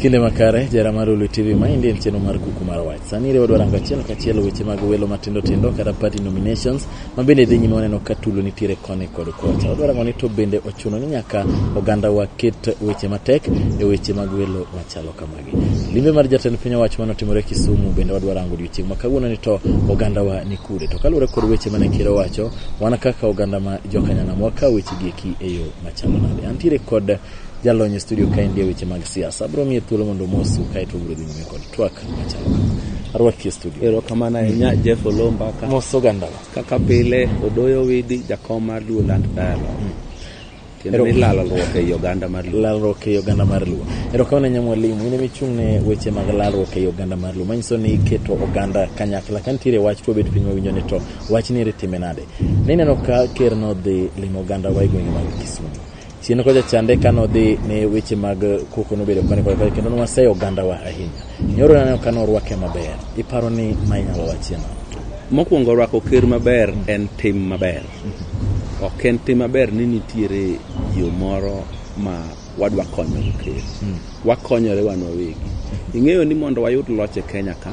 Kinde makare, jara mar Ulu TV, ma endi en chenro mar kuku mar wach. Sani iriwo dwarango achiel kachiel weche mag welo matindo tindo kata party nominations ma bende dhi nyime waneno ka tulo nitiere koni kod kocha. Wadwarango ni to bende ochuno ni nyaka oganda waket weche matek e weche mag welo machalo kamagi. Limbe mar jatend piny owacho mane otimore Kisumu bende wadwarango odiochieng' ma kawuono ni to oganda wa ni kure. To kaluwore kod weche mane ker owacho, wan kaka oganda ma jokanyanam wakawo weche gi eki e yo machalo nade. Antiere kod Jalony e studio ka endia weche mag siasa. Abro miye thuolo mondo omosu kae to obro dhi nyime kod twak machalo kama. Arwaki e studio. Erokamano ahinya Jeff Olomba ka, Mos oganda. kaka pile Odoyo Widi jakom mar Luo Land Dialogue. Tiende ni Ero- lalruok ei oganda mar Luo. Lalruok ei oganda mar Luo. Erokamano ahinya mwalimu, in ema ichung' ne weche mag lalruok ei oganda mar Luo. Manyiso ni iketo oganda kanyakla. Ka nitiere wach to wabet piny wawinjo ni to wach ni ere time nade. Ne ineno ka ker nodhi limo oganda wa e gwenge mag Kisumu. chien kocha chande ka nodhi ne weche mag koko nobedo koni koni koni kendo nwaseyo ogandawa ahinya nyoro naneno ka norwake maber iparo ni ma inyalo wachie nang'o mokwongo rwako ker maber en tim maber ok en tim maber ni nitiere yo moro ma wadwa konyogo ker wakonyore wan wawegi ing'eyo ni mondo wayud loch e kenya ka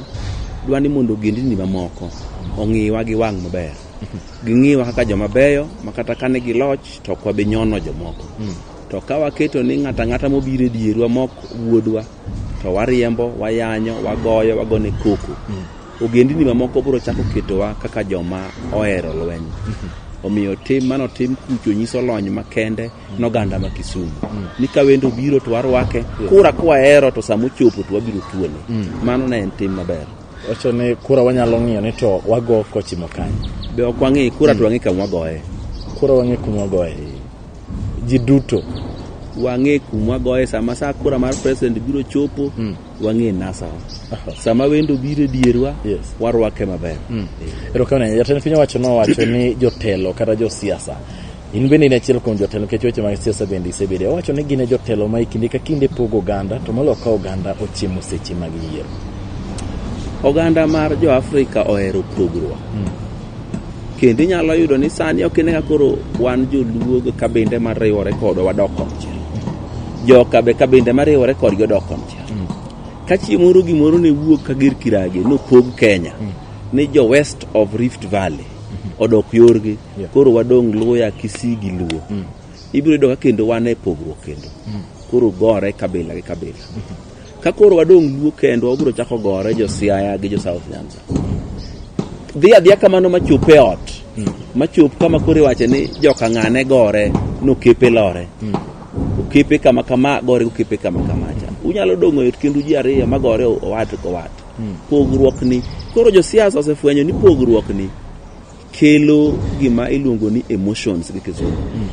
dwa ni mondo ogendini mamoko ong'iwa gi wang' maber ging'iwa kaka joma beyo ma kata kane gi loch to ok wabi nyono jomoko hmm. to ka waketo ni ng'ato ang'ata mobiro e dierwa mok wuodwa to wariembo wayanyo wagoyo wagone koko hmm. ogendini mamoko biro chako ketowa kaka joma ohero lweny hmm. omiyo tim mano tim kucho nyiso lony makende noganda ma kisumu ni ka wendo biro to warwake kura kwahero to samochopo to wabiro tuone mano ne en tim maber Wacho ni kura wanyalo ng'iyo ni to wago kochimo kanye? Be ok wang'e kura to wang'e kama wagoye. Kura wang'e kuma wagoye. Ji duto wang'e kuma wagoye sama sa kura mar president biro chopo mm. wang'e nasawa uh-huh. sama wendo biro e dierwa yes. warwake maber mm. erokamano jatend piny owacho nowacho ni jotelo kata josiasa In bende in achiel kuom jotelo nikech weche mag siasa bende isebedo. Owacho ni gin e jotelo ma e kinde ka kinde pogo oganda to moloyo ka oganda ochiemo seche mag yiero. Oganda mar jo Afrika ohero pogruok. Hmm. Kendo inyalo yudo ni sani ok ine ka koro wan joluo gi kabinde ma riwore kodwa wadok konchiel. Joka be kabinde ma riwore kodgi odok konchiel. Hmm. Ka chieng' moro gimoro ne wuok ka gir kirage nopog Kenya hmm. ni jo West of Rift Valley. odok yorgi Yeah. koro wadong' luya kisii gi luo Mm. ibiro yudo ka kendo wan e pogruok kendo Mm. koro gore kabila gi kabila ka koro wadong' luo kendo wabiro chako gore jo siaya gi jo south nyanza dhi adhiya kamano machop e ot Mm. machop kama koro iwache ni joka ng'ane gore nokepe lore Mm. okepe kama kama gore okepe kama kama cha unyalo dong'o yot kendu ji ariyo magore owat kowat Hmm. Pogruok ni koro josiasa osefwenyo ni pogruok ni kelo gima iluongo ni emotions gi kizungu. Hmm.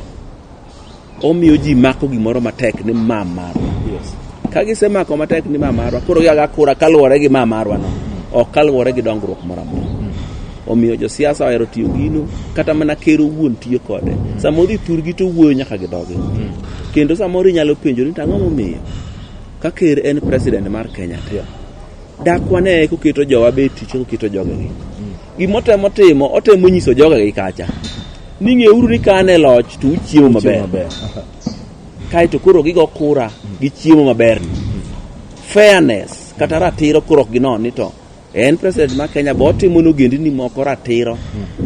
Omiyo ji mako gimoro matek ni ma marwa. Yes. Ka gisemako matek ni ma marwa, koro giaga kura kaluwore gi ma marwa no. Hmm. Ok kaluwore gi dongruok moro amora. Omiyo josiasa ohero tiyo gino, kata mana ker owuon tiyo kode. Samoro ithurgi to wuoyo nyaka gi dhogi. Kendo samoro inyalo penjo ni to ang'o momiyo? Ka ker en president mar Kenya te, dak wane koketo jowa be tich koketo jogegi. Gima otemo timo, otemo nyiso jogegi kacha. Ni ng'euru ni ka an e loch to uchiemo maber. maber. Kae to koro gigo kura gi chiemo maberni. Fairness kata ratiro koro ok ginon ni to En president ma Kenya bo otimo ne ogendini moko ratiro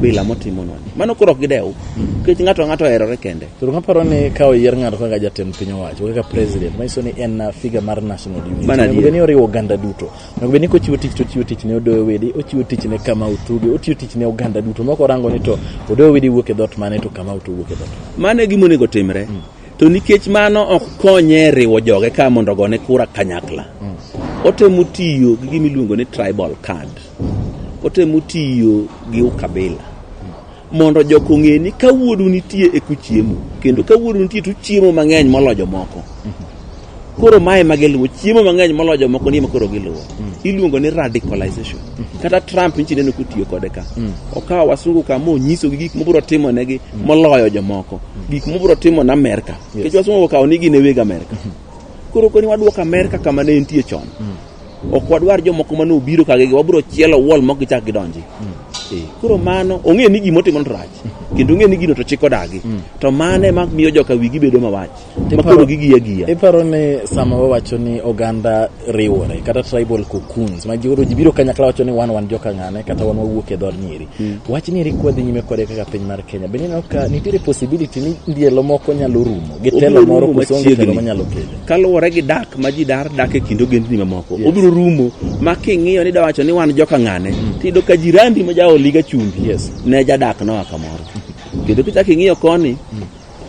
bila motimonwa. Mano koro ok gidew. Nikech ng'ato ang'ato oherore kende. Koro kaparo ni ka oyier ng'ato kaka jatend piny owacho kaka president manyiso ni en uh, figure mar national unity Mano onego adier. bed ni oriwo oganda duto onego bed ni kochiwo tich to ochiwo tich ne odoyo wede ochiwo tich ne kama utuge ochiwo tich ne oganda duto moko orango ni to odoyo wede wuok e dhot mane to kama utuge wuok e dhot mane. Mano e gima onego otimre. to nikech mano ok konye riwo joge ka mondo ogone kura kanyakla otemo tiyo gi gima iluongo ni tribal card otemo tiyo gi ukabila mondo jok ong'e ni ka wuodu nitie e kuchiemo kendo ka wuodu nitie to uchiemo mang'eny moloyo jomoko koro mae ma giluwo chiemo mang'eny moloyo jomoko ni makoro giluwo mm. iluongo ni radicalization mm. kata trump nichi neno kotiyo kode ka mm. okawo wasungu ka ma onyisogi gik mobiro timo negi mm. moloyo jomoko mm. gik mobiro timo na amerka nikech yes. wasungu okawo ni gin e weg amerka mm -hmm. koro koni wadwoko amerka kama ne entie chon mm. ok wadwar jomoko mane obiro kagege wabiro chielo wall mok gichak gidonji mm. Eh, koro mano ong'e ni gimotimo to rach mm. kendo ong'e ni gino to chik odagi mm. to mano ema miyo joka wigi bedo mawach makoro gigi agiya. Iparo ni sama wawacho ni oganda riwore kata tribal cocoons ma gioro ji biro kanyakla wacho ni wan wan joka ng'ane kata wan wawuok e dhood nyiri. Mm. Wach nyiri kwadhi nyime kode kaka piny mar Kenya. Bende ineno ka nitiere possibility ni ndielo moko nyalo rumo gi telo moro koso onge telo manyalo kele. Kaluwore gi dak ma ji dar dak e kind ogendni mamoko. Yes. Obiro rumo ma king'iyo ni dawacho ni wan joka ng'ane. Mm. Tiyudo ka jirandi ma jaoliga chumbi. Yes. Ne jadak noa kamoro. Kendo kichak ing'iyo koni. Mm.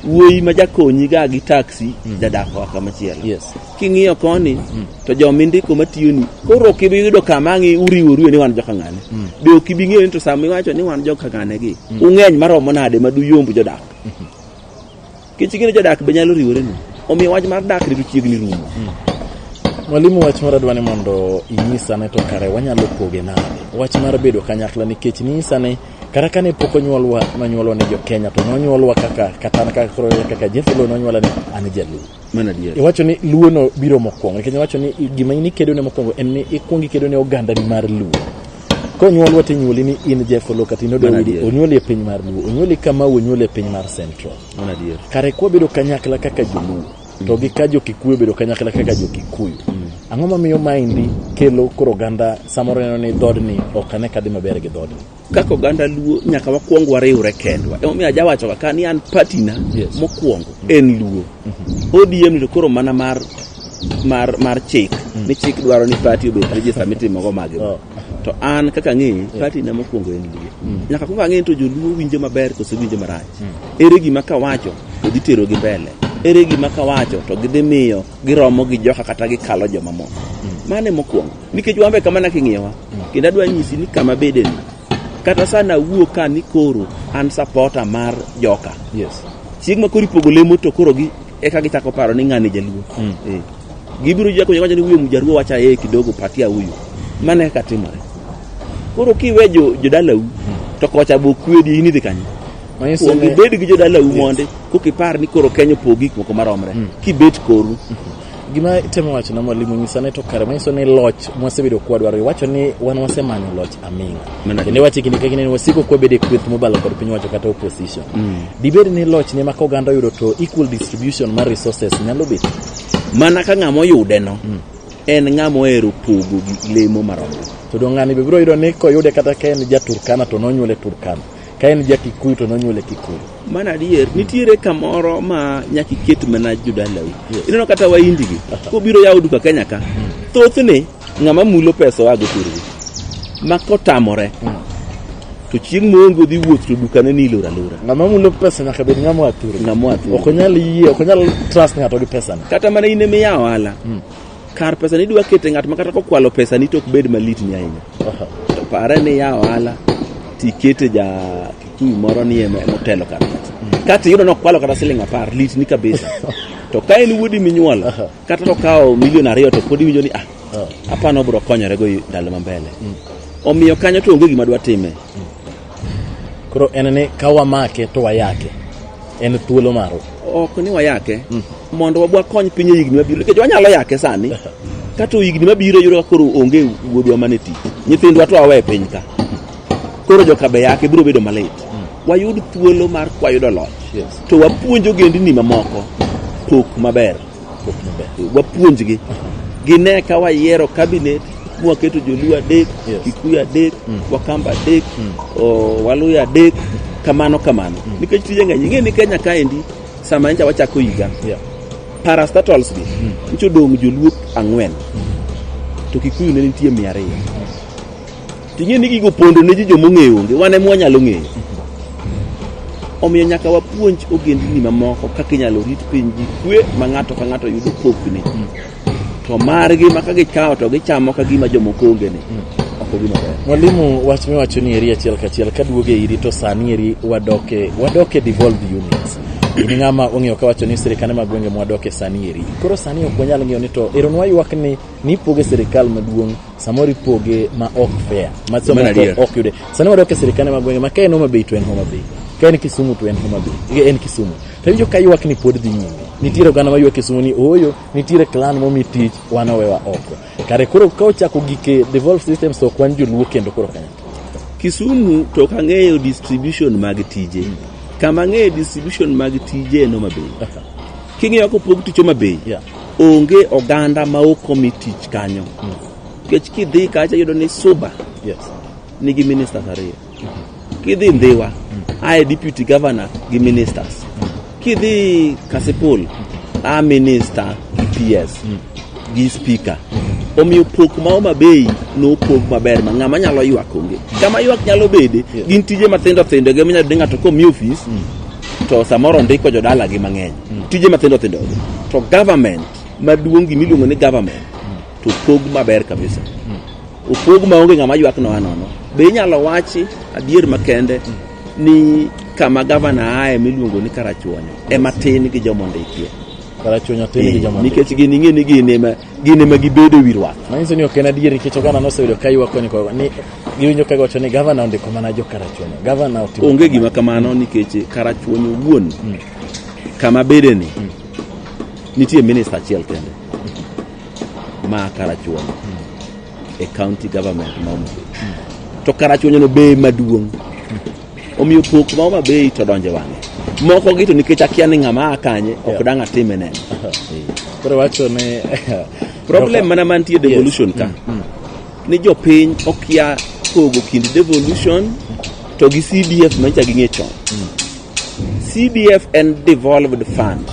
wuoyi ma jakonyi ga gi taxi mm. jadak wa kama chielo yes. king'iyo koni mm. to jomindiko matiyoni koro ok ibi yudo kama ang'i uriworu e ni wan joka ng'ane mm. be ok ibi ng'eyo ni to sama iwacho ni wan joka ng'ane gi mm. ung'eny maromo nade ma duyomb jodak mm -hmm. kech ing'e ni jodak be nyalo riwore nu omiyo wach mar dak rito chiegni rumo mm. mwalimu wach moro adwa ni mondo inyisa ne to kare wanyalo poge nade wach mar bedo kanyakla nikech ninyisa ni Kata kane pok onyuolwa, nonyuolwa ni Jokenya, to nonyuolwa kaka kata kaka koro kaka Jeff Luo nonyuola ni an Jaluo. Mano adier. Iwacho ni Luo no biro mokwongo, nikech iwacho ni i- gima in ikedo ne mokwongo en ni ikwongo ikedo ne oganda ni mar Luo. Konyuolwa to inyuoli ni in Jeff Luo kata in Odo Mano Widi, adier. onyuoli e piny mar Luo, onyuoli Kamau, onyuoli e piny mar Central. Mano adier. Kare kwabedo kanyakla kaka Joluo, to gi ka jo-Kikuyu obedo kanyakla kaka jo-Kikuyu. Ang'o mamiyo maendi kelo koro oganda samoro neno ni dhoodni ok ane kadhi maber gi dhoodni? kaka oganda luo nyaka wakwong wariwre kendwa emomiyo ajawachoga ka ni an patina Yes. mokwongo en luo odm ni to koro mana mar mar mar chik ni chik dwaro ni pati obed rejista mitimogo magi Oh. to an kaka ang'eyi yeah. pati na mokwongo en luo mm. nyaka kuongo ang'eyi to joluo winjo maber kose winjo marach mm. ere gima kawacho to dhi tero gi mbele ere gima kawacho to gidhi miyo giromo gi joka kata gikalo jomamoko mm. mane mokwongo nikech wambe kama na king'iyowa mm. kendo adwa nyisi ni kama bedeni kata sana wuo ka ni koro an sapota mar joka yes. chieng' ma koro ipogo lemo to koro gi eka gichako paro ni ng'ani jaluo mm. eh. Gibiro jia kwenye wacha ni huyo mjaruo wacha yeye kidogo patia huyu. Maana katimore. Koro kiwe jo jodala u to kocha bo kwedi ini dikanye. Manyiso Kuom ni ibed gi jodala u monde kokipar ni koro Kenya opogi gik moko maromre. Kibet koru. gima itemo wacho na mwalimu nyisa ne to kare manyiso ni loch mwasebedo kwadwaro iwacho ni wan wasemanyo loch aming'a Mana- kendo iwacho kinde ka kinde ni wasiko kwabede kweth mobalo kod piny wacho kata opposition dibed ni loch ne maka oganda oyudo to equal distribution mar resources nyalo bedo mana ka ng'ama oyudeno en ng'ama ohero pogo gi lemo maromo to dong' ng'ani be biro yudo ni koyude kata ka en ja turkana to nonyuole turkana ka en ja kikuyu to nonyuole kikuyu mana adier nitiere kamoro ma nyaka iket mana jodalau Yes. ineno kata waindigi kobiro yawo duka kenya ka thothne ng'ama mulo pesa oago thurgi ma kotamore to chieng' moongo dhi wuoth to dukane ni ilor alora ng'ama mulo pesa nyaka bed ng'ama oa thurgi ng'ama oa thurgi ok onyal yie ok onyal trust ng'ato gi pesane kata mana in emiya ohala hmm. kar pesa ni idwa kete ng'at ma kata kokwalo pesa ni to ok bed malit ni ahinya to pare ni ya ohala tikete ja kikuyu moro ni emotelo kar pesa hmm. kata iyudo nokwalo kata siling apar lit ni kabisa to ka en wuodi minyuolo kata to kawo milion ariyo to pod iwinjo ni ah, ah. apano obro konyore go ndalo mambele mm. omiyo kanyo to onge gima dwa time mm. koro en ni ka wamake to wayake en thuolo marwa ok ni wayake mm. mondo wabwa kony piny e higni mabiro nikech wanyalo yake sani kata higni mabiro yudo ka koro onge wuodwa mane ti nyithindwa to awe e piny ka koro jokabe yake biro bedo malit mm. wayud thuolo mar kwayudo loch yes. to wapuonjo gendini mamoko pok maber wapuonjgi gine ka wayiero kabinet mwaketo joluo adek Yes. kikuyu adek wakamba adek o, waluya adek kamano kamano nikech tije ng'eny ing'e ni kenya kaendi sama ncha wachako higa Yeah. parastatals gi nchodong' joluo ang'wen to kikuyu ne nitie mia ariyo Ting'e ni gigo pondo ne ji joma ong'eyo onge, wan ema wanyalo ng'eyo. Omiyo nyaka wapuonj ogendni mamoko kaka inyalo rit piny gi kwe ma ng'ato ka ng'ato yudo pokne. To margi ma ka gikawo to gichamo ka gima jomoko onge ni. Ok obi maber. Mwalimu, wach miwacho ni eri achiel kachiel kaduogo e iri to sani eri wadoke wadoke devolved units. In ng'ama ong'eyo kawacho ni sirikande mag gwenge mwadoke sani eri. Koro sani ok wanyal ng'eyo ni to ero nwaywak ni nipoge sirikal maduong' samoro ipoge ma ok fair ma Mano samoro adier. ok yude sani wadok e sirikande mag gwenge ma ka en Homa Bay to en Homa Bay ka en Kisumu to en Homa Bay en Kisumu to iwinjo ka ywak ni pod dhi nyime nitiere oganda ma ywak Kisumu ni ooyo nitiere clan momi tich wan owewa oko kare koro ka ochako gike devolve systems to ok wan joluo kendo koro kanyakla Kisumu to ok ang'eyo distribution mag tije. Kama ang'eyo distribution mag tije en Homa Bay. King'iyo kopog tich Homa Bay, Yeah. Onge oganda ma ok omi tich kanyo. Nikech kidhi kacha yudo ni Suba Yes. nigi ministers ariyo. Kidhi Ndhiwa, ae deputy governor gi ministers. Kidhi Kasipul, a minister gi PS gi speaker. Omiyo pok ma Homa Bay nopog maber ma ng'ama nyalo ywak onge. Kama ywak nyalo bede, gin tije matindo tindo gi minyalo yudo ni ng'ato komi ofis, to samoro ndiko jodalagi mang'eny mm. tije mathindo thindo to government maduong' gima iluongo ni government to pog maber kabisa mm. opog maonge ng'ama ywak noa nono be inyalo wachi adier makende mm. ni kama gavana aye miluongo ni karachuonyo ema tin gi jomondikie karachuonyo tin gi jomondikie nikech gini ing'e ni gini gin ema gibedo e wi ruath. Manyiso ni ok en adier nikech oganda noseyudo ka ywak koni koni ni giwinjo ka giwacho ni gavana ondiko mana jo Karachuonyo. Gavana otimo Onge gima kamano nikech Karachuonyo wuon kama bedeni nitie minista achiel kende ma Karachuonyo e county government ma Homa Bay. To Karachuonyono be maduong' Omiyo pok ma Homa Bay to donje wang'e. Moko gi to nikech akia ni ng'ama a kanye ok dang' atime neno. Koro wacho ni Problem mana mantie devolution ka. Ni jopiny okia pogo kind devolution to gi CDF ma nyicha ging'e chon. CDF en devolved fund.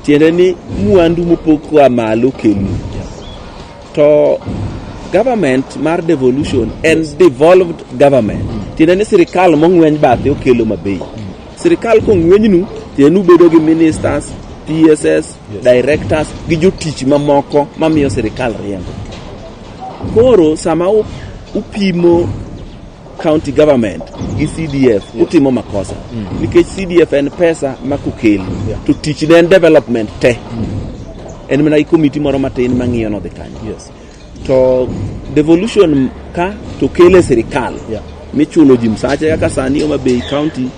Tiende ni mwandu mopog koa malo kelu. To government mar devolution en devolved government. Tiende ni sirikal mong'weny bathe okelo mabei. Sirikal kong'wenynu, tiende ni ubedo gi ministers, PSS, directors gi jotich mamoko mamiyo sirikal riembo. Koro sama u- upimo county government gi CDF utimo makosa nikech CDF en pesa ma kokeli to tich ne en development te en mana gi komiti moro matin ma ng'iyo nodhi kanyo Yes. to devolution ka to kele sirikal Yeah. michulo ji msache kaka sani Homa Bay county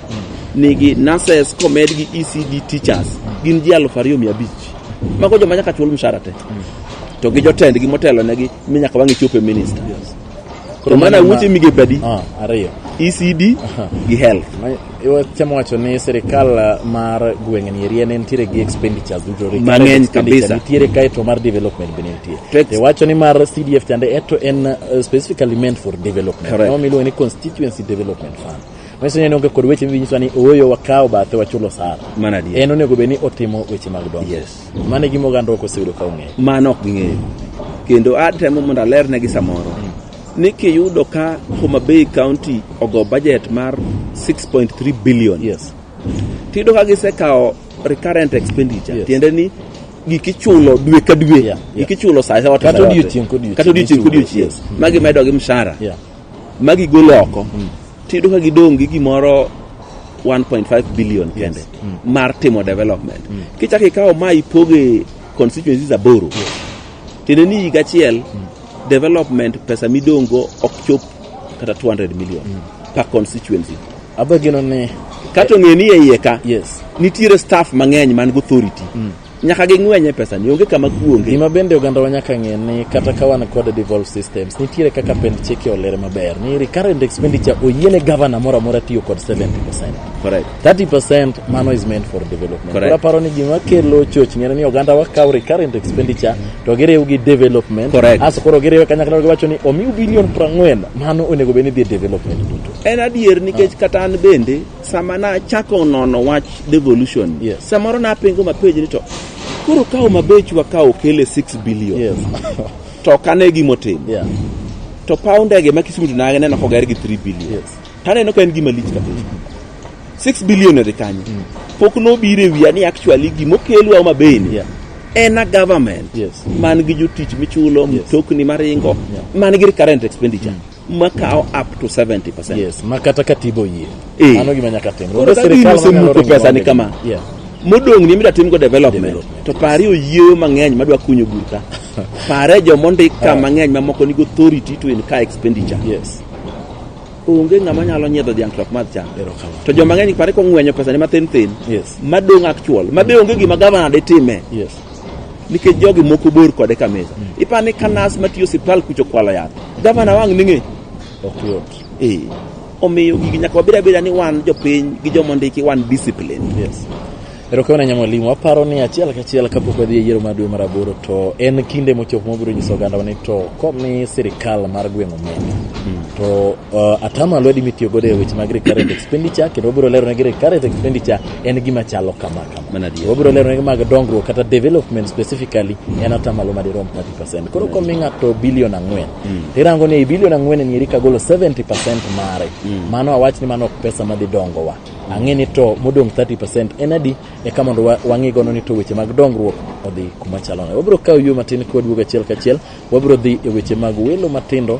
nigi nurses komed gi ECD teachers gin ji aluf ariyo mia abich mago joma nyaka chul mshahara te to gi jotendgi motelonegi mi nyaka wang'e chopo e minister Koro mana mano ma- wuoche migepe adi? Ah, ariyo. ECD gi health. Iwachamo wacho ni sirikal uh, mar gweng'ni eri en entiere gi expenditures duto. Recurrent Mang'eny expenditure kabisa. Nitiere kae to mar development be nitie. Tex- Iwacho ni mar CDF chande eto en uh, specifically meant for development. Correct. No miluongo ni constituency development fund. Manyiso ni en onge kod weche minyiswa ni ooyo wakawo bathe wachulo sara. Mana adier. En onego bed ni otimo weche mag dongruok. Yes. Mano e gima oganda ok oseyudo ka ong'eyo. Mano ok ging'eyo. Kendo atemo mondo alernegi samoro ni kiyudo ka Homa Bay County ogo budget mar 6.3 billion. Yes. Tiyudo ka gisekawo recurrent expenditure. Yes. Tiende ni gik ichulo dwe ka dwe. Yeah. Yeah. Gik ichulo saa yote. Kata odiochieng' kodiochieng'. Kata odiochieng' kodiochieng'. Yes. Magi medo gi mshahara. Yeah. ma gigolo oko mm. tiyudo ka gidong' gi gimoro 1.5 billion kende yes. mm. mar timo development mm. kichako ikawo ma ipoge constituencies aboro yes. tiende ni higa achiel mm. development pesa midong'go ok chop kata 200 million mm. per constituency abegino ni kato ng'e ni e iye ka yes. nitiere staff mang'eny man go authority mm. nyaka ging'wenye pesani onge kama kuonge gima bende ogandawa nyaka ng'e ni kata ka wan kod devolve systems nitiere kaka pend chike olere maber ni recurrent expenditure oyiene governor moro amora tiyo kod 70 percent correct 30 percent mano is meant for development koro aparo ni gima kelo choch ng'ere ni ogandawa kawo recurrent expenditure to giriw gi development correct aso koro giriwe kanyakla giwacho ni omiu bilion 40 mano onego bed ni dhi e development duto en adier nikech kata an bende Sama nachako nono wach devolution, Yes. samoro napengo mapej ni to koro ka Homa Bay chwa ka okele 6 billion Yes. to ok ane gima otim yeah. to paw ndege ma Kisumu to naneno koger gi 3 billion Yes. to aneno ka en gima lich kabisa 6 billion odhi kanyo pok nobiro e wiya ni actually gima okelwa Homa Bay ni Yeah. en a government Yes. man gi jotich michulo mtokni maringo man gi recurrent expenditure makawo up to 70%. Yes, ma kata katiba oyie. Eh. Mano gima nyaka timre. Koro Onge ka sirkal gini manyalo osemuko ringo pesa ni onge. kama. Yeah. Modong' ni mida timgo development. Development. To pari oyieyo mang'eny madwa kunyo bur ka. Pare jomondik ka mang'eny mamoko nigi authority to incur expenditure. Yes. Onge ng'ama nyalo nyiedho dhiang' to ok madh cham. Erokamano. To joma ng'eny pare kong'wenyo pesa ni mathin thin. Yes. Madong' actual. Ma be onge gima gavana ditime. Yes. nikech jogi moko bor kode ka mesa ipa ni kanas matiyo siptal kucho kwalo yath gavana wang' ning'e ok yot ee omiyo gigi nyaka wabed abeda ni wan jopiny gi jomondiki wan discipline yes erokamano nya mwalimu aparo ni achiel kachiel kapok wadhi e yiero mar dwe mar aboro to en kinde mochopo mabiro nyiso ogandawa ni to komi sirikal mar gweng' omenda to uh, atamalo adi mitiyo godo e weche mag recurrent expenditure kendo wabiro lero negi recurrent expenditure en gima chalo kama kama wabiro leronegi mag dongruok kata development specifically en atamalo madirom 30 koro komi ng'ato bilion ang'wen tirango ni ei bilion ang'wen nieri kagolo 70 mare mano awach ni mano ok pesa madhi dongowa ang'e ni to modong' 30 en adi eka mondo wa- wang'i gono ni to weche mag dongruok odhi kuma chalo nade wabiro kawo yo matin kwaduogo achiel kachiel wabiro dhi e weche mag welo matindo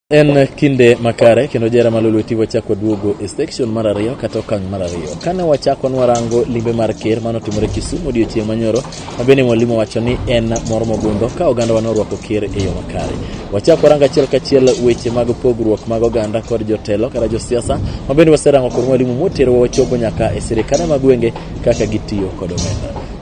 En kinde makare kendo jera malolweti wachako duogo e section mar ariyo kata okang' mar ariyo. Kane wachako nwarango limbe mar ker mane otimore Kisumu odiochieng' manyoro, ma bende mwalimu wacho ni en mor mogundho ka oganda wa norwako ker e yo makare. Wachako warango achiel kachiel weche mag pogruok mag oganda kod jotelo kata josiasa ma bende waserango kod mwalimu moterowa wachopo nyaka e sirikande mag gwenge kaka gitiyo kod omenda.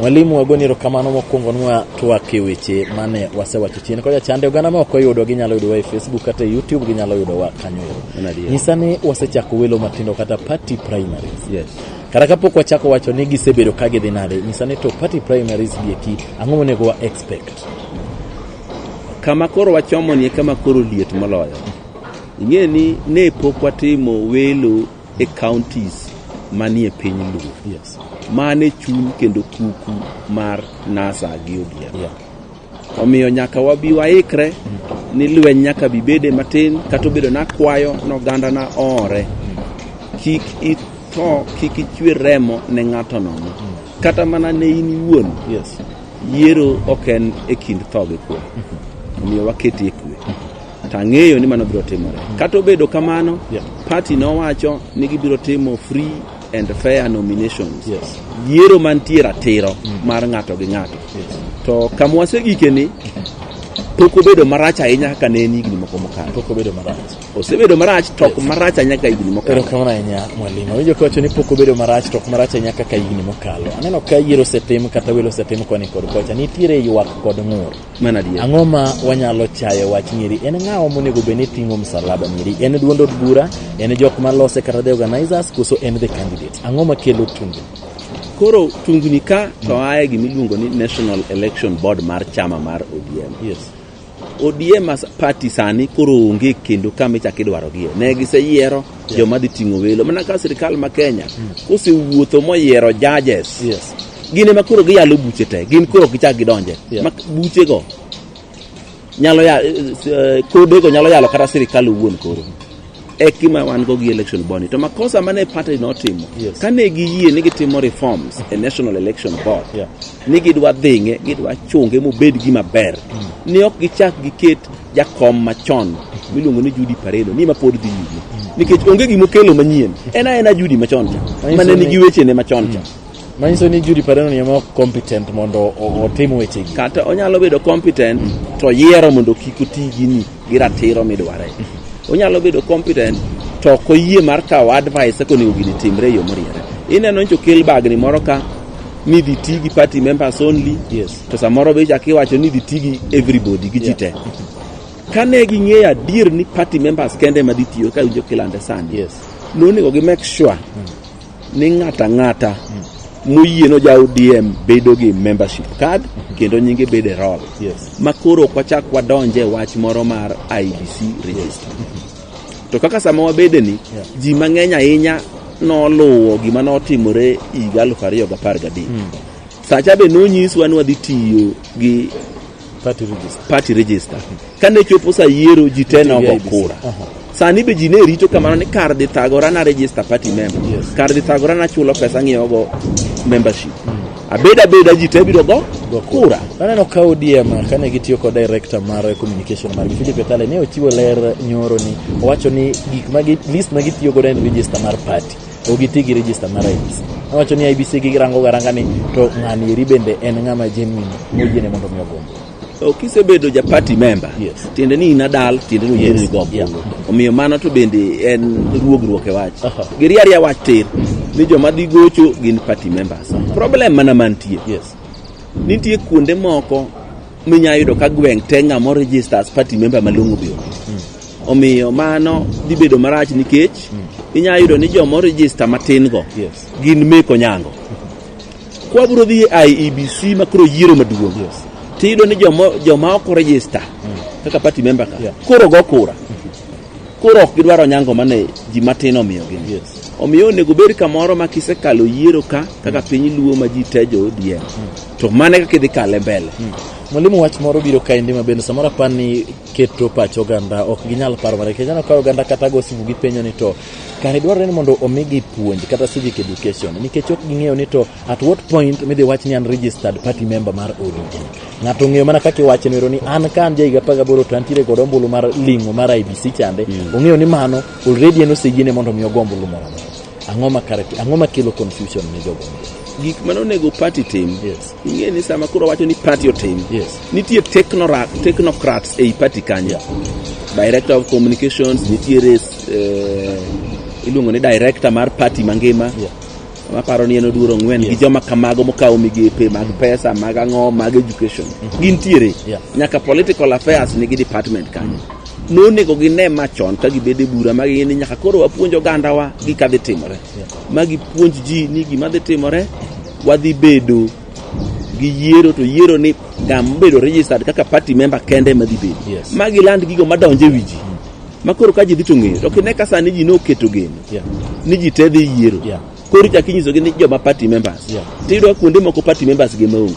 Mwalimu wagoni erokamano mokwongo nwa twak e weche mane wasewacho chien kocha chande oganda ma ok oyudo ginyalo yudowa e Facebook kata e YouTube ginyalo yudowa kanyo ero. Nyisa ni wasechako welo matindo kata party primaries. Yes. Kata kapok wachako wacho ni gisebedo ka gidhi nade, nyisa ni to party primaries gi eki ang'o monego wa expect? Kama koro wachomo ni kama koro liet moloyo. Ing'e ni ne pok watimo welo e counties manie piny Luo. Yes. Mane chuny kendo kuku mar NASA gi ODM. Yeah. Omiyo nyaka wabi waikre mm. ni lweny nyaka bibede matin kata obedo nakwayo noganda na ore mm. kik itho kik ichwe remo ne ng'ato nono mm. kata mana ne in iwuon yes. yiero ok en e kind tho gi kwe mm-hmm. omiyo waketie kwe mm-hmm. to ang'eyo ni mano biro timore. Kata obedo kamano, Yeah. party nowacho ni gibiro timo free and fair nominations. Yes. Yiero mantie ratiro mar ng'ato gi ng'ato. Yes. To kama wasegikeni, pok obedo marach ahinya kaka ne en higni moko mokalo. Pok obedo marach. Osebedo marach to ok marach ahinya kaka higni mokalo. Erokamano ahinya mwalimu. Awinjo kawacho ni pok obedo marach to ok marach ahinya kaka higni mokalo. Aneno ka yiero osetim kata welo osetim koni kod kocha. Nitiere ywak kod ng'ur. Ang'o ma wanyalo chayo wach nyiri? En ng'awa monego bed ni ting'o msalaba nyiri? En duond od bura? En jok ma lose kata the organizers? Koso en the candidate? Ang'o ma kelo tunge? Koro tungni ka to mm. aye gima iluongo ni National Election Board mar chama mar ODM. Yes. ODM as party sani koro onge kendo kama ichak idwarogie. Ne giseyiero joma dhi ting'o welo. Mana ka sirkal ma Kenya mm. kosewuotho moyiero judges. Yes. gin ema koro giyalo buche te gin koro gichak gidonje yeah. buchego nyalo ya, eh, kodego nyalo yalo kata sirikal owuon koro e kima wan go gi election boni to makosa mane party notimo yes. kane giyie ni gitimo reforms e national election board yeah. ni gidwa dhinge gidwa chunge mobed gima ber mm. ni ok gichak giket jakom machon miluongo ni Judy Paredo ni ma pod dhi nyime mm. nikech onge gima okelo manyien en aena Judy machon cha mane nigi wechene machon cha mm. Manyiso ni Judy Padono ni ema competent mondo otim weche gi. Kata onyalo bedo competent to yiero mondo kik oti gini gi ratiro midware. Onyalo bedo competent to ok oyie mar kawo advice kaka onego gini timre e yo moriere. Ineno nyocha okel bagni moro ka ni dhi ti gi party members only yes. to samoro be chak iwacho ni dhi ti gi everybody gi ji te kane ging'eyo adier ni party members kende ma dhi tiyo ka winjo kilande sani yes. nonego gi make sure mm. ni ng'ata ng'ata moyie no ja ODM bedo gi membership card kendo nyinge bedo e roll Yes. ma koro ok wachak wadonje e wach moro mar IBC register to kaka sama wabede ni Yeah. ji mang'eny ahinya noluwo gima notimore higa 2013 sacha be nonyiswa ni wadhi tiyo gi party register. party register kane chopo sa yiero ji te nogo IEBC. kura Aha. sani be ji ne rito kamano ni kar dhi thagora na register party member Yes. kar dhi thagora na chulo pesa ng'iewogo membership abeda abeda ji te biro go Go kura Aneno ka ODM kane gitiyo kod director mar communication margi Philip Etale ne ochiwo ler nyoro ni owacho ni gik ma gi- list ma gitiyo godo en register mar party ok giti gi register mar IEBC. Awacho ni IEBC girango garanga ni to ng'ani eri bende en ng'ama genuine moyiene mondo mi ogombo. So kisebedo ja party member Yes. tiende ni inadal tiende ni Yes. yes. go Yeah. omiyo mano to bende en ruogruok e wach Aha. giriaria wach tir ni joma dhi gocho gin party members problem mana mantie Yes. nitie kuonde moko minya yudo ka gweng' te ng'ama orejista as party member malong'o biyo omiyo mano dhi bedo marach nikech inya yudo ni joma orejista matin go Yes. gin meko nyango kwabiro dhi e iebc ma koro yiero maduong' Yes. tiyudo ni joma joma ok orejista kaka party member ka Yeah. koro go kura koro ok gidwaro nyango mane ji matin omiyogi Yes. omiyo onego bed kamoro ma kisekalo yiero ka kaka piny luo ma ji tejo odiem to mane kaka idhi kale mbele hmm. Mwalimu, wach moro biro kaendi ma bende samoro apar ni keto pach oganda ok ginyal paro mana nikech aneno ka oganda kata go simu gipenjo ni to kare dwarore ni mondo omigi puonj kata civic education nikech ok ging'eyo ni to at what point midhi wach ni an registered party member mar ODP ng'ato ng'eyo mana kaka iwacho nero ni an ka an jahiga apar gaboro to antiere kod ombulu mar ling'o mar IBC chande hmm. ong'eyo ni mano already en oseyiene mondo mi ogo ombulu moro Ang'o ma kare ang'o ma kelo confusion ne jogo? Gik ma onego party tim. Yes. Ing'e ni sama koro wacho ni party otim. Yes. Nitie technorat, technocrats ei party kanyo. Yeah. Director of communications, nitie res eh, iluongo ni director mar party mangima. Yeah. Maparo ni en oduoro ng'wen yes. gi joma kamago mokawo migepe mag mm-hmm. pesa mag ang'o mag education. Mm -hmm. Gintiere. Yeah. Nyaka political affairs nigi department kanyo. Mm -hmm. nonego gine ma chon ka gibede bura ma gini nyaka koro wapuonj ogandawa gi ka dhi timore ma gipuonj ji ni gima dhi timore wadhi bedo gi yiero to yiero ni gam bedo registered kaka party member kende ma dhi bedo yes. ma giland gigo madonje wi ji ma koro ka ji dhi to ng'eyo to kine ka sani ji noketo geno yeah. ni ji te dhi yiero yeah. koro ichak inyisogi ni joma party members Yeah. tiyudo kuonde moko party members gi maonge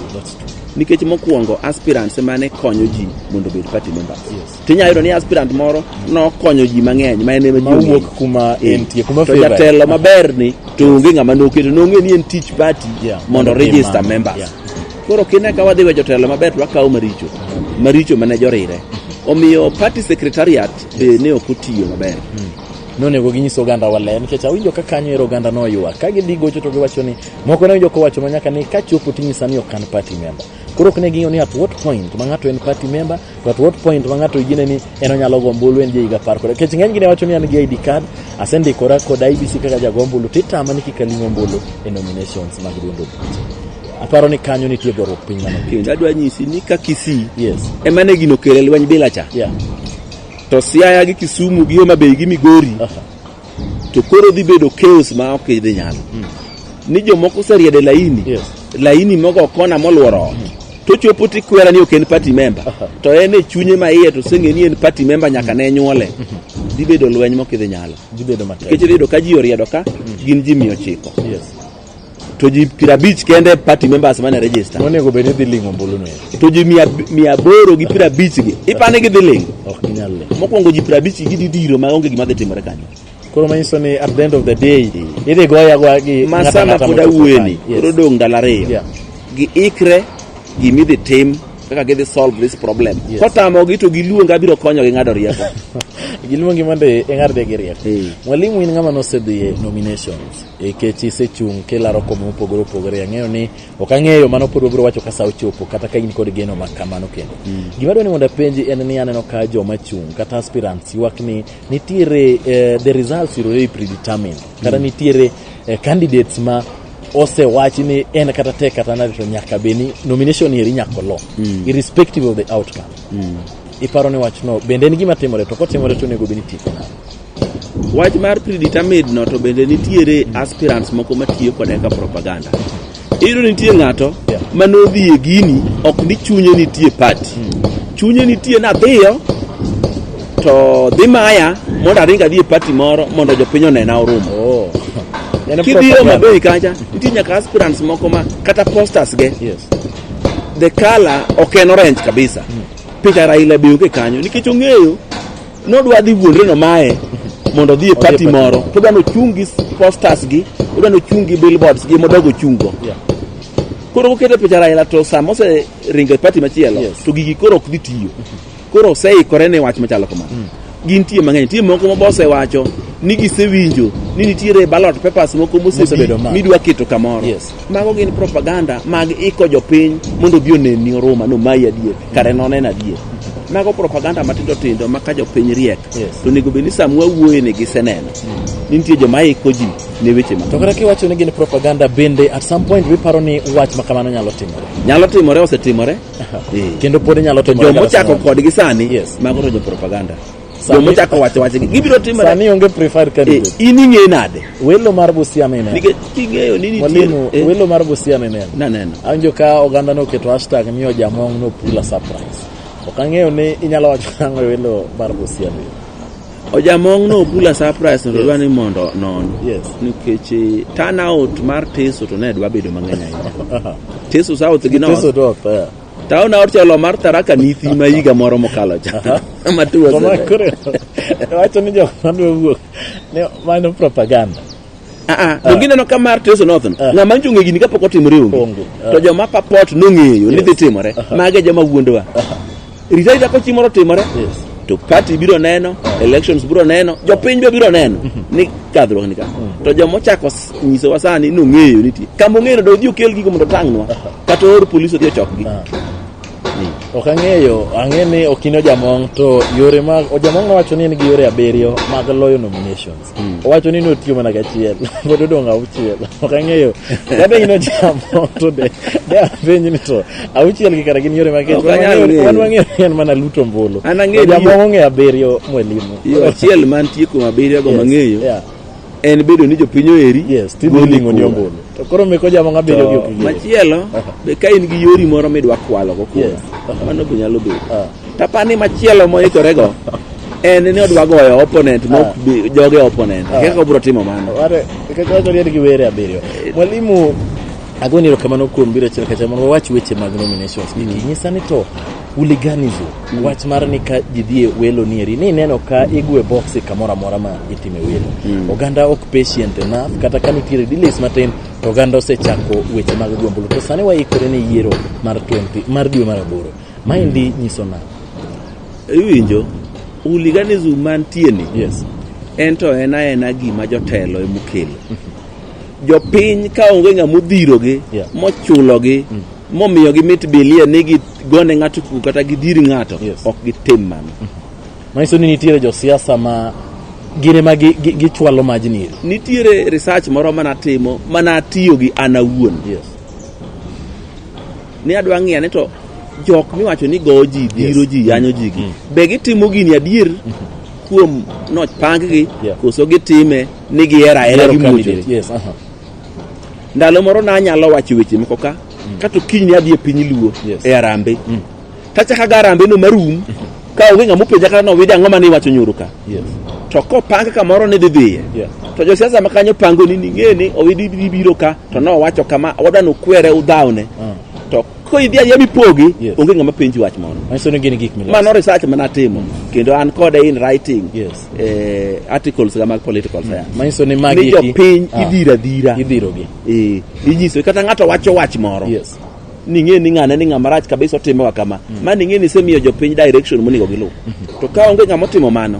nikech mokwongo aspirants emane konyo ji mondo obed party members Yes. tinyalo yudo ni aspirant moro nokonyo ji mang'eny ma en ema ji Ma ong'eyo. wuok kuma Eh, entie, kuma to favored. jatelo maber ni to onge ng'ama noketo nong'e ni en tich party Yeah, mondo mondo register imam, members yeah. koro kine ka wadhi we jotelo maber to wakawo maricho maricho mane jorire omiyo party secretariat be ne ok otiyo maber nonego ginyis oganda wa ler nikech awinjo ka kanyo ero oganda no oywa ka gidhi gocho to giwacho ni moko ne winjo kowacho ma nyaka ni ka chopo tinyisa ni ok an party member koro ok ne ging'eyo ni at what point ma ng'ato en party member to at what point ma ng'ato yine ni en onyalo go ombulu en jaiga par kod nikech ng'eny gi ne wacho ni an gi ID card asendikora kod IBC kaka jago ombulu titama ni kik aling ombulu e nominations mag duond obuche aparo ni kanyo nitie goruok piny mano Kendo adwa nyisi ni ka Kisii yes ema ne gino kele lweny bila cha. yeah To Siaya gi Kisumu gi Homa Bay gi Migori to koro dhi bedo chaos ma ok idhi nyalo. Hmm. Ni jomoko oseriede laini. Yes. Laini mogo kona molworo ot. Hmm. To chopo ti kwera ni ok en party member. To en e chunye ma iye to senge ni en party member nyaka ne nyuole. Hmm. Dhi bedo lweny mok idhi nyalo. Dhi bedo matek. Kech dhi bedo ka ji oriedo ka gin ji 900. Yes. to ji piero abich kende party members mane register Monego bed ni dhi ling'o ombulu no. to ji mia mia aboro gi piero abich gi ipani gidhi ling Ok ginyal ling'o. mokwongo ji piero abich gi gidhi diro ma onge gima dhi timore kanyo Koro manyiso ni at the end of the day idhi goya goya gi ng'ato masama ang'ata pod mochopo awueni kanyo. Yes. koro dong' ndalo ariyo Yeah. giikre gimidhi tim kaka gidhi solve this problem Yes. kotamogi to giluonga abiro konyogi ng'ado rieko Giluongi mondo ing'ad gi rieko. Eh. Mwalimu in ng'ama nosedhi e nominations. nikech isechung' kilaro kome mopogore opogore ang'eyo ni ok ang'eyo mano pod wabiro wacho ka sa ochopo kata ka in kod geno ma kamano kendo mm. gima dwa ni mondo apenji en ni aneno ka joma chung' kata aspirants ywak ni nitiere eh, the results are already predetermined kata mm. nitiere eh, candidates ma osewachi ni en kata tek kata nade to nyaka be ni nomination eri nyako lo mm. irrespective of the outcome mm. iparo ni wachno bende en gima timore to kotimore to onego be ni tieko nade Wach mar predetermined no to bende nitiere aspirants moko matiyo kode ka propaganda. Iyudo ni nitie ng'ato Yeah. ma nodhi e gini ok ni chunye nitie party. Chunye nitie nadhiyo to dhi maya mondo aring adhi e party moro mondo jopiny onena orumo. Oh. En Kidhiyo propaganda. Mabei kacha nitie nyaka aspirants moko ma kata posters ge Yes. the color ok en orange kabisa. Picha Raila be onge kanyo nikech ong'eyo nodwa dhi wuondre nomaye mondo odhi e pati moro to odwa nochung' gi posters gi odwa nochung' gi billboards gi modogo chungo Yeah. koro kokete picha Raila to sama oseringo e pati machielo Yes. to gigi koro ok dhi tiyo koro oseikore ne wach machalo kamano gin tie mang'eny nitie moko ma bosewacho ni gisewinjo ni nitiere ballot papers moko Mosebedo mosebi ma. midwa keto kamoro Yes. Mago gin propaganda mag iko jopiny mondo obi oneni oruma no mayi adier kare nonen adier. Mago propaganda matindo tindo ma ka jopiny riek Yes. to onego bed ni sama wawuoye ni giseneno ni nitie joma iko ji ne weche ma To kata kiwacho ni gin propaganda bende at some point wiparo ni wach ma kamano nyalo timore. nyalo timore osetimore. Eh. Kendo pod nyalo To timore. joma kata ochako samoro. kodgi sani Yes. mago to jo propaganda. Sani- Joma ochako wacho wacho ni gibiro timore. Sani onge preferred Eh, candidate. in ing'e nade? Welo mar Busia mineno. Nikech king'eyo ni nitie Mwalimu, eh, welo mar Busia mineno. naneno. Awinjo ka oganda noketo hashtag ni ojamong' no pula surprise. Ok ang'eyo ni inyalo wacho nang'o e welo mar Busia ni. Ojamong' no bula surprise to dwa ni mondo non. Yes. Nikech eh, turnout mar Teso to ne dwa bedo mang'eny ahinya. Teso South gi North. Teso North, eh. Taon aor chelo mar Tharaka Nithi ma higa moro mokalo cha. Ma two was Koma it? kore. Wacho ni jok madwa wuok. Ne mano propaganda. Ah, ah, to gineno ka mar Teso North no. Ah. Ng'ama nchunge gini kapok otimore onge. Onge. Ah. To joma papot nong'eyo ni dhi timore. Mage joma wuondowa. Rita rita ko chimoro timore. Yes. To party biro neno, elections biro neno, jopiny be biro neno ni kadhruok ni ka. To joma ochako s- nyisowa sani nong'eyo nitie. Kama ong'eyo do odhi okel gigo mondo otangnwa. kata or polis odhi ochokgi ah. ok ang'eyo ang'e ni ok in ojamong to yore mag ojamong nowacho ni en gi yore abiriyo mag loyo nominations hmm. owacho ni notiyo mana gachiel pod odong' auchiel ok ang'eyo kata in ojamong to de de apenj ni to auchiel gi kara gin yore mag kech wan wang'eyo ni en mana luto mbulu ojamong ong'eyo abiriyo mwelimo achiel mantie kuom abiriyo go mang'eyo en bedo ni jopiny oheri yes timo goli ling'o ni kura. ombulu to koro meko jamo ng'a bedo gi To- okigere machielo be ka in gi yori moro midwa kwalogo kura Yes. mano be nyalo bedo Ah. tapani machielo moikorego en ni odwa goyo opponent Ah. mok bi- joge opponent Ah. kaka obiro timo mano Ware, nikech wacho ni en gi were abiriyo mwalimu agoni erokamano kuom biro achiel kacha mondo wawach weche mag nominations gigi nyisa ni to Hooliganism, mm. wach mar ni ka ji dhie welo nieri ni ineno ka igwe boksi kamoro amora ma itime welo. Mm. Oganda ok patient enough kata ka nitiere delays matin to oganda osechako weche mag gombulu. To sani waikore ni yiero mar 20 mar dwe mar aboro. Maendi mm. nyiso na. Iwinjo hooliganism mantie ni. Yes. En to en aena gima jotelo emokelo. Mm-hmm. Jopiny ka onge ng'ama odhirogi yeah. mochulogi mm. momiyo gimit bilie ni gigone ng'ato kuku kata gidir ng'ato Yes. ok gitim mano manyiso ni nitiere josiasa ma gin ema gi- gi- gichwalo majni iri nitiere research moro mana timo mana atiyo gi an awuon yes. ni adwa ng'iya ni to jok miwacho ni go ji biro ji yanyo ji gi be gitimo gini adier kuom nochpang gi Yeah. koso gitime ni gihera era Gihero gi mucho candidate, yes, aha. ndalo moro nanyalo wacho weche moko ka mm. kato kiny ni adhi e piny luo yes. e arambe mm. tachaka ga arambe no marum mm -hmm. ka onge ng'ama openja kata nowide ang'o mane iwacho nyoro ka yes. to kopang kamoro ni dhi dhiye yes. to josiasa ma kanyo pango ni ning'e ni owidi biro ka to nowacho kama wadwa nokwere udhawne mm. ko idhi adhiya mipogi Yes. onge ng'ama penji wach moro Manyiso ni gin gik miloso. mano research mana atimo kendo an kode in writing Yes. eh, articles ga mag political science Manyiso ni magi ni eki- jopiny Ah. idhira dhira Idhirogi. eh, inyiso kata ng'ato wacho wach moro Yes. ning'e ni ng'ane ni ng'ama rach kabisa otimewa kama ma ning'e ni isemiyo jopiny direction monego giluw to ka onge ng'ama otimo mano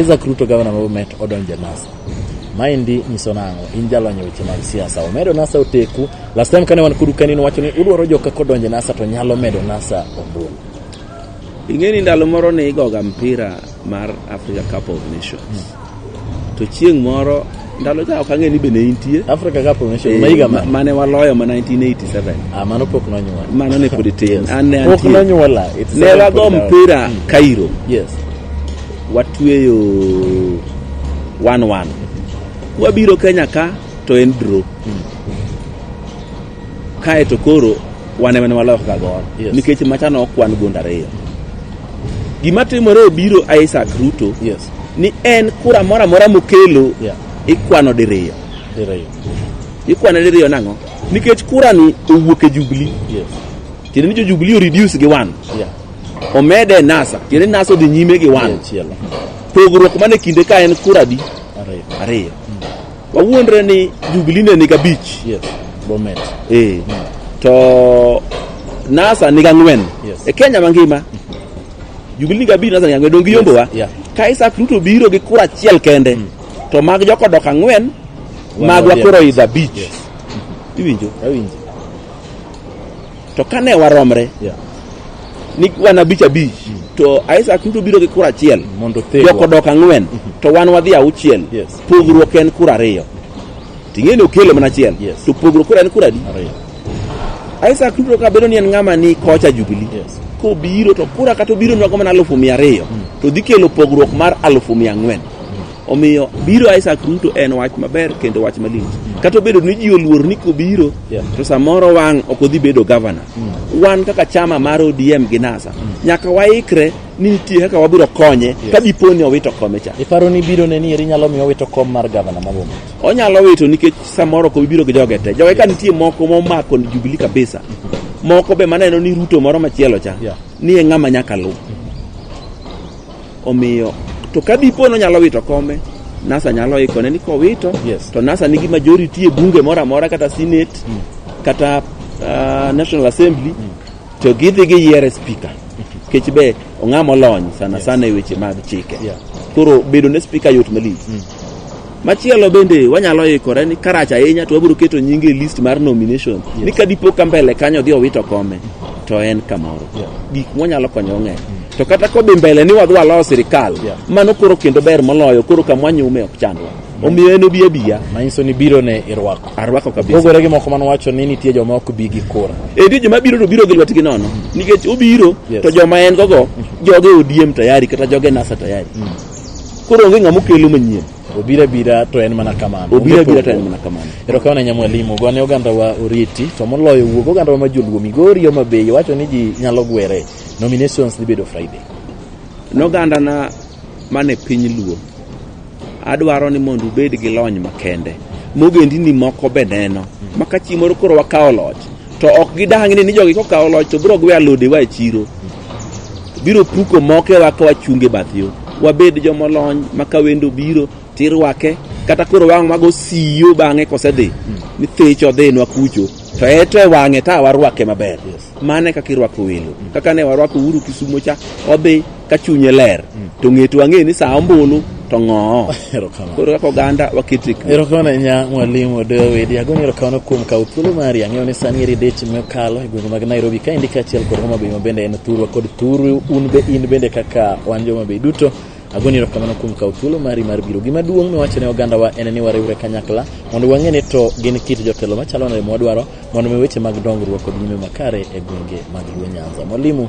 Isaac Ruto gavana ma Bomet odonjo e NASA. Maendi nyiso nang'o? In jalony e weche mag siasa. Omedo NASA oteku. Last time kane wan kodu kani nowacho ni udwaro joka kodonjo e NASA to nyalo medo NASA ombulu. Ing'e ni ndalo moro ne igoga mpira mar Africa Cup of Nations. To chieng' moro ndalo cha ok ang'e ni be ne intie Africa Cup of Nations ma higa ma ma- mane waloyo ma 1987 ah mano pok nonyuol mano ne pod tin Yes. an ne pok antie nonyuola It's ne seven wago point down. mpira Cairo yes watweyo 1-1 wabiro Kenya ka to en draw Kae to koro wan ema ne waloyo ka gor yes. nikech machano ok wan gund ariyo. Gima timore obiro Isaac Ruto yes. ni en kura moro amora mokelo yeah. ikwano diriyo. Diriyo. Ikwano diriyo nang'o? Nikech kura ni owuok e Jubilee. Yes. Tiende ni jo Jubilee o reduce gi one. Yeah. Omede NASA. Tiende NASA odhi nyime gi one. Yeah, pogruok mane kinde ka en kura di ariyo. ariyo. Wawuondre ni Jubilee ne niga abich. Yes. Bomet. Eh. Mm. To NASA niga ang'wen. Yes. E Kenya mangima. Jubilee niga abich NASA niga ang'wen. Dongi yombo wa. Yes. Yeah. Ka Isaac Ruto biro gi kura achiel kende. Mm. To mag joko dok ang'wen. Magwa koro idha abich. Yes. Iwinjo? Awinjo. to kane waromre Yeah. ni wan abich abich to Isaac duto biro gi kura achiel Mondo othegwa. joko dok ang'wen to wan wadhi auchiel Yes. pogruok en kura ariyo ting'e ni okelo mana achiel Yes. to pogruok kura en kura adi Ariyo. Isaac duto ka bedo ni en ng'ama ni kocha Jubilee Yes. kobiro to kura kata obiro nwago mana alufu mia ariyo to dhi kelo pogruok mar alufu mia ang'wen Omiyo biro Isaac Ruto en wach maber kendo wach malich. Kata obedo ni ji oluor ni kobiro Yeah. to samoro wang' ok odhi bedo gavana. Wan kaka chama mar ODM gi NASA nyaka waikre ni nitie kaka wabiro konye ka dipo ni owito kome cha. Iparo ni biro ne ni eri nyalo miyo wito kom mar gavana ma Bomet? Onyalo wito nikech samoro ko biro gi joge te. Joge ka nitie moko momako ni Jubilee kabisa. Moko be maneno ni Ruto moro machielo cha Yeah. ni e ng'ama nyaka luw. Omiyo to ka dipo ni onyalo wito kome, NASA nyalo ikone ni kowito Yes. to NASA nigi majority e bunge moro amora kata Senate kata ah, National Assembly to gidhi giyiere speaker. Kech be ong'ama olony sana sana e weche mag chike. Yeah. Koro bedo ne speaker yot malich. Machielo bende wanyalo ikore ni karach ahinya to wabiro keto nyinge e list mar nomination yes. ni ka dipo ka mbele kanyo dhi owito kome to en kamoro yeah. gik mwanyalo konyo ng'eny mm. to kata kodhi mbele ni wadhi walo sirikal yeah. mano koro kendo ber moloyo koro kamwanyume ok chandwa omiyo en obi abiya manyiso ni biro ne irwako arwako kabisa pogore gi moko mane wacho ni nitie joma ok bi gi kura edi joma biro to biro gi lwetgi nono nikech obiro yes. to joma en gogo mm. joge odiem tayari kata joge nasa tayari mm. Koro onge ng'ama okelo manyien. Obira bira to en mana kamano. Obira bira to en mana kamano. Ero kawana nya mwalimu gone oganda wa oriti to moloyo wuog oganda wa majoluo migori o mabeyo wacho ni ji nyalo gwere nominations dhi bedo Friday. Noganda na mane piny luo adwaro ni mondo ubed gi lony makende mogendini moko be neno ma ka chieng' moro koro wakawo loch to ok gidang' ni ni jogi kokawo loch to biro gwe alodewa e chiro biro puko mokewa ka wachunge bath yo wabed jomolony ma ka wendo biro tirwake kata koro wang' mago siyo bang'e kosedhi hmm. ni thich odhinwa kucho to eto e wang'e ta warwake maber mane kaka irwako welo hmm. kaka ne warwako uru kisumo cha odhi ka chunye ler hmm. to ng'eto wang'e ni saa ombulu to ng'oo Erokamano. koro kaka oganda waket e kwe Erokamano ahinya mwalimu Odoyo Wedi. Agoyo erokamano kuom kawo thuolo mari. Ang'eyo ni sani eri deche mokalo e gwenge mag Nairobi kaendi kaachiel kod Homa Bay ma bende en thurwa kod thuru un be in bende kaka wan Joma Bay duto. Agoni erokamano kuom kawo thuolo mari mar biro. Gima duong' miwacho ne ogandawa en ni wariwre kanyakla mondo wang'e ni to gin kit jotelo machalo nade mwadwaro mondo mi weche mag dongruok kod nyime makare e gwenge mag Luo Nyanza. Mwalimu